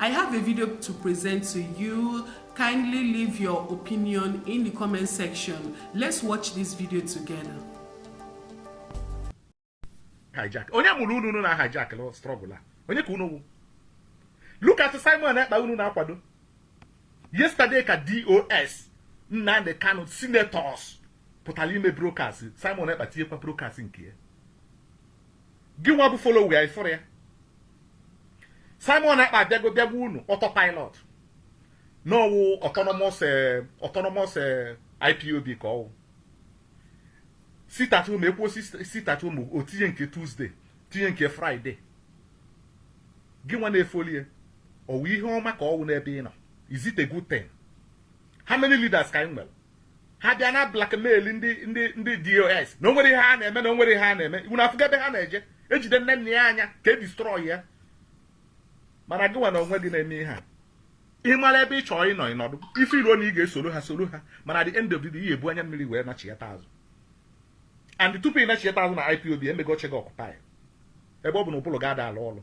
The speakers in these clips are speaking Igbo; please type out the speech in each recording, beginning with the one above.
I have a video to present to you. Kindly leave your opinion in the comment section. Let's watch this video together. Hijack. Onye mụrụ unu na hijack lọ struggle a? Onye ka unu Look at Simon Ekpa unu na-akwado. Yesterday ka DOS Nnamdi Kanu senators pụtara ime broadcast Simon Ekpa tinyekwa broadcast nke ya. gị nwa bụ follower ị fụrụ ya Simon Ekpa abịago bịa gwa unu autopilot na ọ wụ autonomous eh, autonomous eh, IPOB ka ọ wụ sit at home ekwuo sit at home o tinye nke Tuesday tinye nke Friday gị nwa na-efollow ya ọ wụ ihe ọma ka ọ wụ n'ebe ị nọ is it a good thing? how many leaders ka anyị nwere ha bịa na-ablackmail ndị ndị ndị DOS na o nwere ihe ha na-eme na o nwere ihe ha na-eme unu afụgo ebe ha na-eje ejide nne nna ya anya ka e destroy ya mana gị nwa na onwe gị na-eme ihe a ị mara ebe ị chọọ ịnọ ịnọdụ ị feeluo na ị ga-esoro ha soro ha mana at the end of the day ị ya-ebu anya mmiri wee nachiyata azụ and tupu ị nachiyata azụ na IPOB emego oche gị occupy ebe ọ bụ na ụbụrụ gị ada alụ ọrụ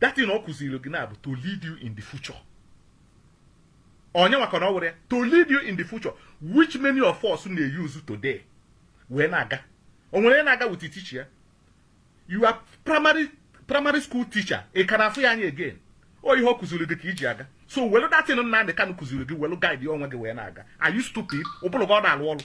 that thing ọ kụziri gị na ọ bụ to lead you in the future onye maka na ọ were ya to lead you in the future which many of us na-eyuzu today wee na-aga o nwere na-aga with teacher your primary primary school teacher ị ka na-afụ ya anya again ọ ihe ọ kụziri gị ka i ji aga so welu that thing Nnamdi Kanu kụziri gị welu guide ya onwe gị wee na-aga are you stupid ụbụrụ gị ọ da alụ ọrụ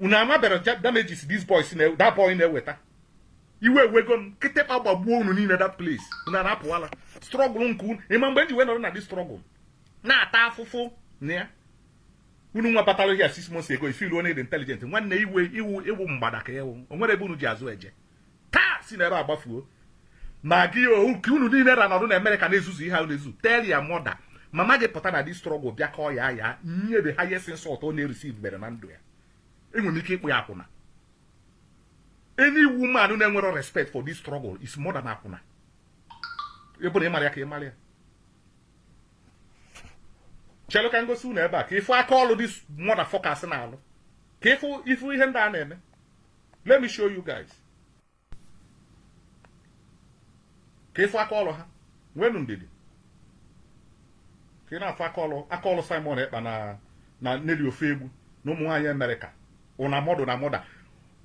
unu amabere damages these boys na that boy na-eweta iwe ewego m kịtịkpa gbagbuo unu niile that place unu anapụala struggle nke unu ị ma mgbe anyị ji wee nọrọ na this struggle na-ata afụfụ na ya unu nwa batara here six months ago ị feelu onye dị intelligent nwanne ị wụ ị wụ ị wụ mgbada ka ewu o nwere ebe unu ji azụ eje taa si n'ebe a gbafuo ma gị ohu ka unu niile na-anọdụ na Amerịka na-ezuzu ihe a na-ezu tell your mother mama gị pụta na this struggle bịa kọọ ya ya nye the highest insult ọ na-ereceivebere na ndụ ya e nwere ike ịkpọ ya akwụna any woman na-enwere respect for this struggle is more than akwụna ebe na ị mara ya ka ị mara ya chelu ka m gosi unu ebe a ka ị fụ aka ọlụ these motherfuckers na-alụ ka ị fụ ị fụ ihe ndị a na-eme let me show you guys ka ị fụ aka ọrụ ha nwenu ndidi ka ị na-afụ aka ọrụ aka ọrụ Simon Ekpa na na Nelly Ofoegbu na ụmụ nwaanyị Amerịka una mother una mother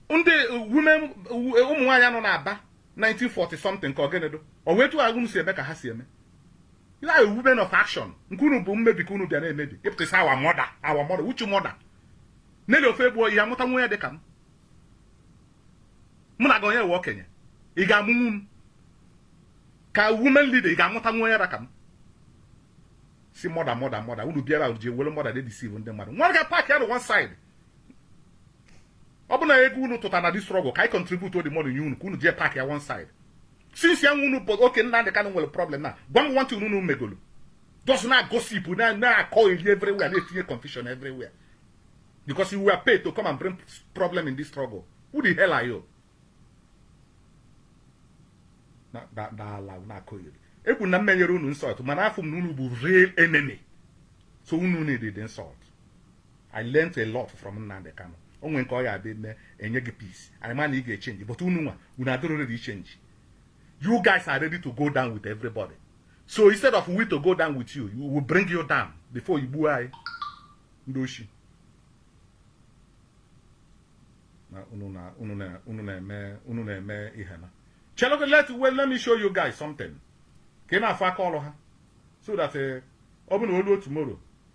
ndị women ụmụ nwaanyị nọ na Aba 1940 something ka ọ gịnị dụ ọ wụ etu a unu si eme ka ha si eme you are women of action nke unu bụ mmebi ka unu bịa na-emebi ị pụta ị sị our mother our mother which mother Nelly Ofoegbu ya amụta nwa ya dị ka m mụ na gị onye we okenye ị ga-amụnwu m ka women leader ị ga-amụta nwa onye ra ka m sị mother mother mother unu bịara ji ewere mother dey deceive ndị mmadụ nwa ga park ya na one side ọ bụ na ego unu tụtara na this struggle ka anyị contribute the money nye unu ka unu jee park ya one side since ya nwe unu bụ oke Nnamdi Kanu nwere problem na gwa m one thing unu megolo just na-agossip na-akọyeri everywhere na-etinye confusion everywhere because you were paid to come and bring problem in this struggle who the hell are you nọlọ na-akọyeri ekwu na m menyere unu insult mana afụ m na unu bụ real enemy so unu needed insult I learnt a lot from Nnamdi Kanu o nwere nke ọ ya abịa mee enye gị peace anyị ma na ị ga-echange but unu nwa unu adịrọ ready change you guys are ready to go down with everybody so instead of we to go down with you we will bring you down before you gbuo anyị ndị oshi unu na-eme unu na-eme ihe na chelugo let well let me show you guys something ka ị na-afụ aka ọrụ ha so that eh, ọ bụ na o lu tomorrow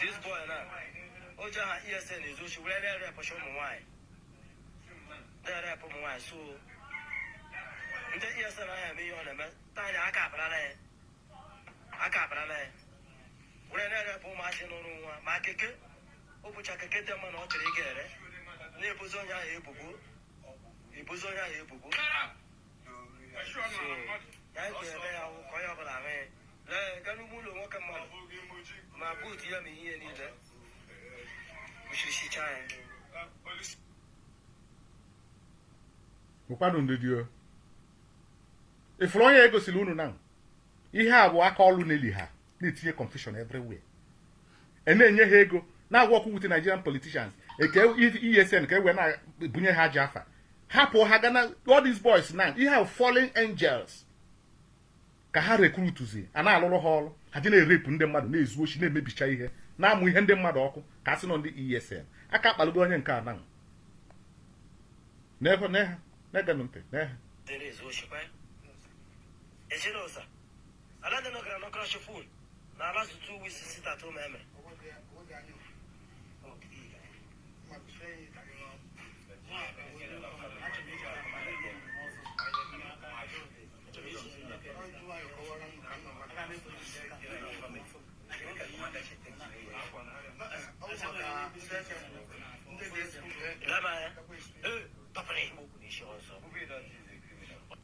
This boy na o ji aha ESN ezu oshi were na-erapecha ụmụ nwaanyị na-erape ụmụ nwaanyị so ndị ESN ahụ eme ihe ọ na-eme taa nịa aka akparala ya aka akparala ya were na-erape ụmụazị n'ụrụ nwa ma keke ọ bụcha keke dị mma na ọ chọrọ ịga ere na-ebozi onye ahụ ebubo ebozi onye ahụ ebubo ụkwado ndidi o ị fụrụ onye egosiri unu na ihe a bụ aka ọlụ Nelly ha na-etinye confusion everywhere e na-enye ha ego na-awork with Nigerian politicians eke ESN ka e wee na-ebunye ha ajọ afa hapụ ha gaa na all these boys now ihe ahụ fallen angels ka ha recruitzia na-alụrụ ha ọrụ ha ji na-erape ndị mmadụ na-ezu oshi na-emebicha ihe na-amụ ihe ndị mmadụ ọkụ ka a sị n'ọ ndị ESN aka akpalụgo onye nke a nanwụ n'ehe n'ehe na-egenụ ntị n'ehe ala ndị nọkara nọkara shofun na ala two two weeks sit at home eme Lama ya. Eh, papa na igbo kwuru isi ọzọ.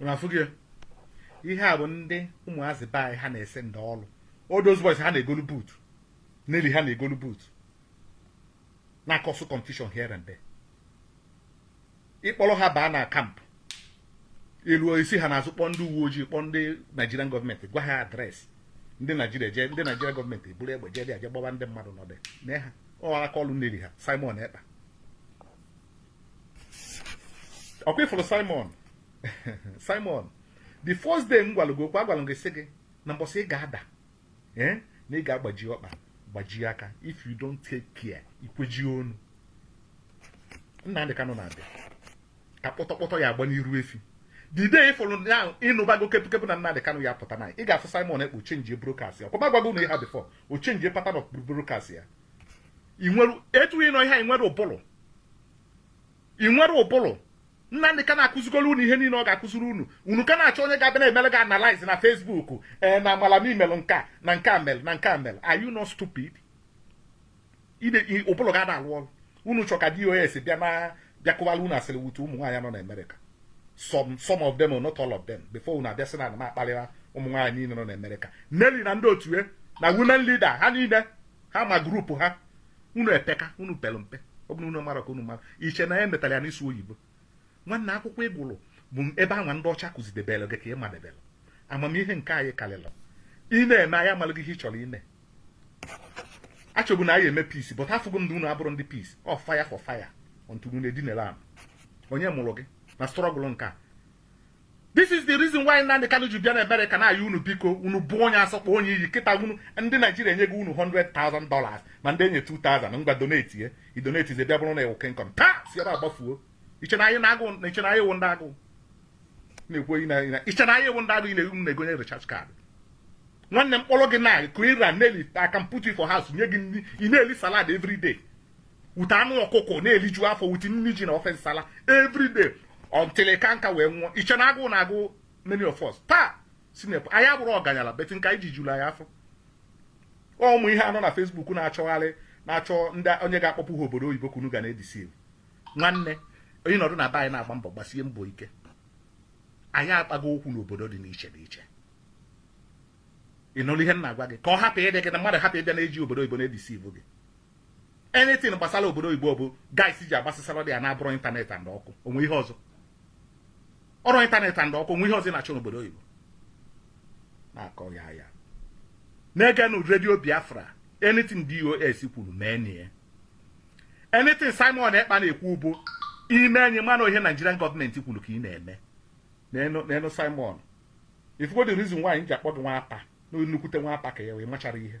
unu afụgo ya ihe a bụ ndị ụmụazị be anyị ha na-esendi ọrụ all those boys ha na-egolu boot Nelly ha na-egolu boot na-akọsụ confusion here and there ịkpọrọ ha baa na kampụ eruo isi ha naa azụ kpọọ ndị uwe ojii kpọọ ndị Nigerian gọọmenti gwa ha adreesị ndị Naijiria jee ndị Naijiria gọọmenti eburu egbe jee dị aje gbaba ndị mmadụ n'ọdị mee ha ọ aka ọrụ Nelly ha Simon Ekpa ọkwa ịfụrụ Simon Simon the first day m gwara gị okwu agwara gị sị gị na mbọsị ị ga-ada eh, na ị ga-agbaji ọkpa gbajie aka if you don't take care ikweji onu Nnamdị Kanụ na-abịa ka kpọtọkpọtọ ya agba n'iru efi the day ịfụrụ na ịnụbago kepụkepụ na Nnamdị Kanụ ya-apụta na ị ga-afụ Simon Ekpa echenji broadcast ya ọkwa m agwago unu ihe a before o chenji pattern of broadcast ya ị nwere etu ịnụ ihe ị nwere ụbụrụ ị nwere ụbụrụ Nnamdị Kanụ akụzigoro unu ihe niile ọ ga-akụziri unu unu ka na-achọ onye ga-abịa na-emere gị analyze na Facebook ee na amala m ihe melụ nke a na nke a mere na nke a mere are you not stupid ụbụrụ gị ana-alụ ọrụ unu chọ ka DOS bịa na bịa kọwara unu asịrị with ụmụ nwaanyị nọ na Amerịka some some of them oo not all of them before unu abịa sị na m akparịra ụmụ nwaanyị niile nọ na Amerịka Nelly na ndị otu ya na women leader ha niile ha ma grupu ha unu epeka unu pere mpe ọ bụrụ unu mara ka unu mara iche na ya e metara ya n'ịsụ oyibo nwanne akwụkwọ ịgụrụ bụ ebe anwa ndị ọcha kụzidebere gị ka ị madebere amamihe nke anyị karịrị ị na-eme anyị amalụgo ihe ị chọrọ ime achọbụ na anyị eme peace but afụgo m na unu abụrọ ndị peace ọ fire for fire until unu edinere ana onye mụrụ gị na struggle nke a this is the reason why Nnamdi Kanu ji bịa na Amerịka na-ayọ unu biko unu bụ onye asọkpọ onye iyi kịta unu ndị Naijiria enye gị unu 100,000 dollars ma ndị enye 2,000 ngwa donate ye idonate ze bịa bụrụ na ewu kenkọm taa si ebe agbafuo iche na anyị na-agụ na iche na anyị wụ ndị agụụ na-ekwu oyi na na iche na anyị wụ ndị agụụ ị na-egwu m na-egonye recharge card nwanne m kpọrọ gị na ka ịra Nelly I can put you for house nye gị nri ị na-eli salad every day wute anụ ọkụkọ na-eliju afọ wute nri ji na ofe nsala everyday until ị kaa nka wee nwụọ iche na agụụ na-agụ many of us taa sinep anyị abụrọ ọganyala but nke anyị ji juru anyị afọ ụmụ ihe a nọ na Facebook na-achọgharị na-achọ ndị onye ga-akpọpụ ha obodo oyibo ka unu ga na-edeceive nwanne onye nọdụ na be anyị na-agba mbọ gbasie mbọ ike anyị akpago ụkwụ n'obodo dị n'iche n'iche ị nụrụ ihe m na-agwa gị ka ọ hapụ ịdị gị na mmadụ hapụ ịbịa na-eji obodo oyibo na-edeceive gị anything gbasara obodo oyibo bụ guys ji agbasasara there na ọ bụrụ ịntanetị and ọkụ o nwe ihe ọzọ ọrụ ịntanetị and ọkụ o nwe ihe ọzọ na-achọ n'obodo oyibo na-akọ ya ya na-egenụ redio Biafra anything DOS kwuru mee nya anything Simon Ekpa na-ekwu bụ ime enyi mana ihe Nigerian government kwuru ka ị na-eme n'elu Simon ị fụgo the reason why m ji akpọ gị nwata na nnukwute nwata ka ya wee machara ihe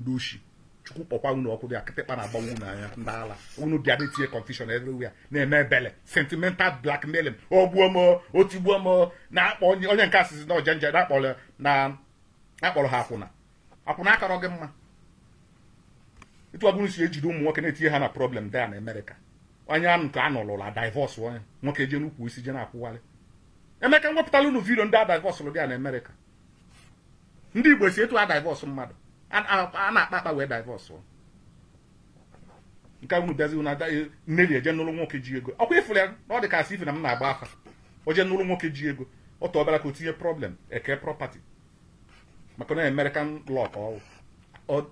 ndị oshi chukwu kpọkwa unu ọkụ there kịtịkpa na-agbawa unu anya ndị ala unu dị adị tinye confusion everywhere na-eme ebele sentimental blackmailing ogbuo m otigbuo m na-akpọ onye onye nke asịsị na ọjanja na-akpọrọ na akpọrọ ha akwụna akwụna akọrọ gị mma etu ọ bụrụ si ejide ụmụ nwoke na-etinye ha na problem there na America onye a nke a nọlụla divorce onye nwoke je n'ukwu isi je na-akwụgharị emeka m wepụtalụ unu video ndị a divorce lụ there na America ndị Igbo si etu a divorce mmadụ a na-akpa akpa wee divorce nke unu bịazi na e, Nelly eje nụrụ nwoke ji ego ọ kwa ị fụrụ ya na ọ dị ka asị ife na m na-agba afa o je nụrụ nwoke ji ego ọ tọbara ka o tinye problem eke property maka na American law ka ọ wụ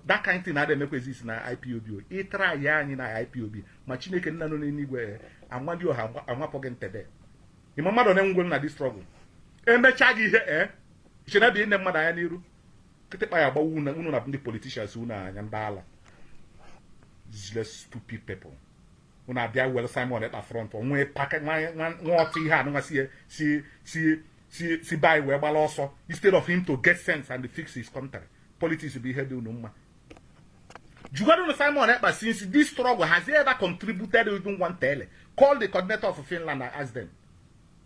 that kind thing na-ada emekwa exist na IPOB ị try ya anyị na IPOB ma Chineke nna nọ n'eluigwe eh, Amadịọha anwapụghị ntebe ịma mmadụ na-enwegwe na this struggle emechaa gị ihe ee eh, chere bụ ịne mmadụ anya n'iru kịtịkpa ya agbawa unu na ndị politicians unu anya ndị ala useless stupid people unu abịa welu Simon Ekpa front onwe paka nwa ọtụ ihe anụnwa si si si si si be anyị wee gbara ọsọ instead of him to get sense and fix his country politics bụ ihe dị unu mma jụgodunụ Simon Ekpa since this struggle has he ever contributed even one tele call the coordinator of Finland and ask them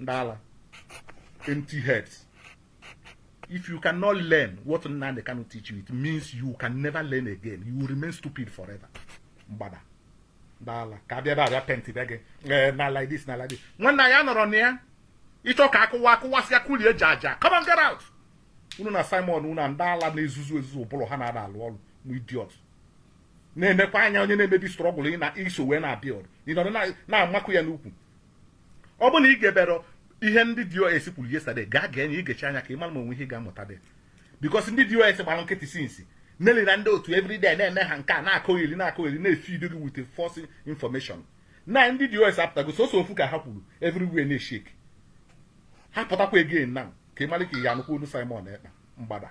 ndị ala empty heads if you cannot learn what Nnamdi Kanu teach you it means you can never learn again you will remain stupid forever mgbada ndị ala ka abịa ebe abịa penti be gị eh, na like this na like this nwanna ya nọrọ na ya ị chọ ka akụwa akụwasịa kulie ji aja come on get out unu na Simon unu na ndị ala na-ezuzu ezuzu ụbụrụ ha na-ada alụ ọrụ ma idiot na-enekwa anya onye na-emebi struggle ị na iso wee na-abịa ọrụ ị nọdụ na-amakụ ya n'ukwu ọ bụrụ na ị geberọ ihe ndị DOS kwuru yesterday gaa gee nya ị gechaa nya ka ị mara ma o nwe ihe ị ga-amụta dị because ndị DOS gbara nkịtị since Nelly na ndị otu everyday na-eme ha nke a na-akọgheri na-akọgheri na-efeed gị with false information na ndị DOS apụtago sọsọ ofu ụka ha kwuru everywhere na-eshake ha pụtakwa again na ka ị mara ka ị ya anụkwa onu Simon Ekpa mgbada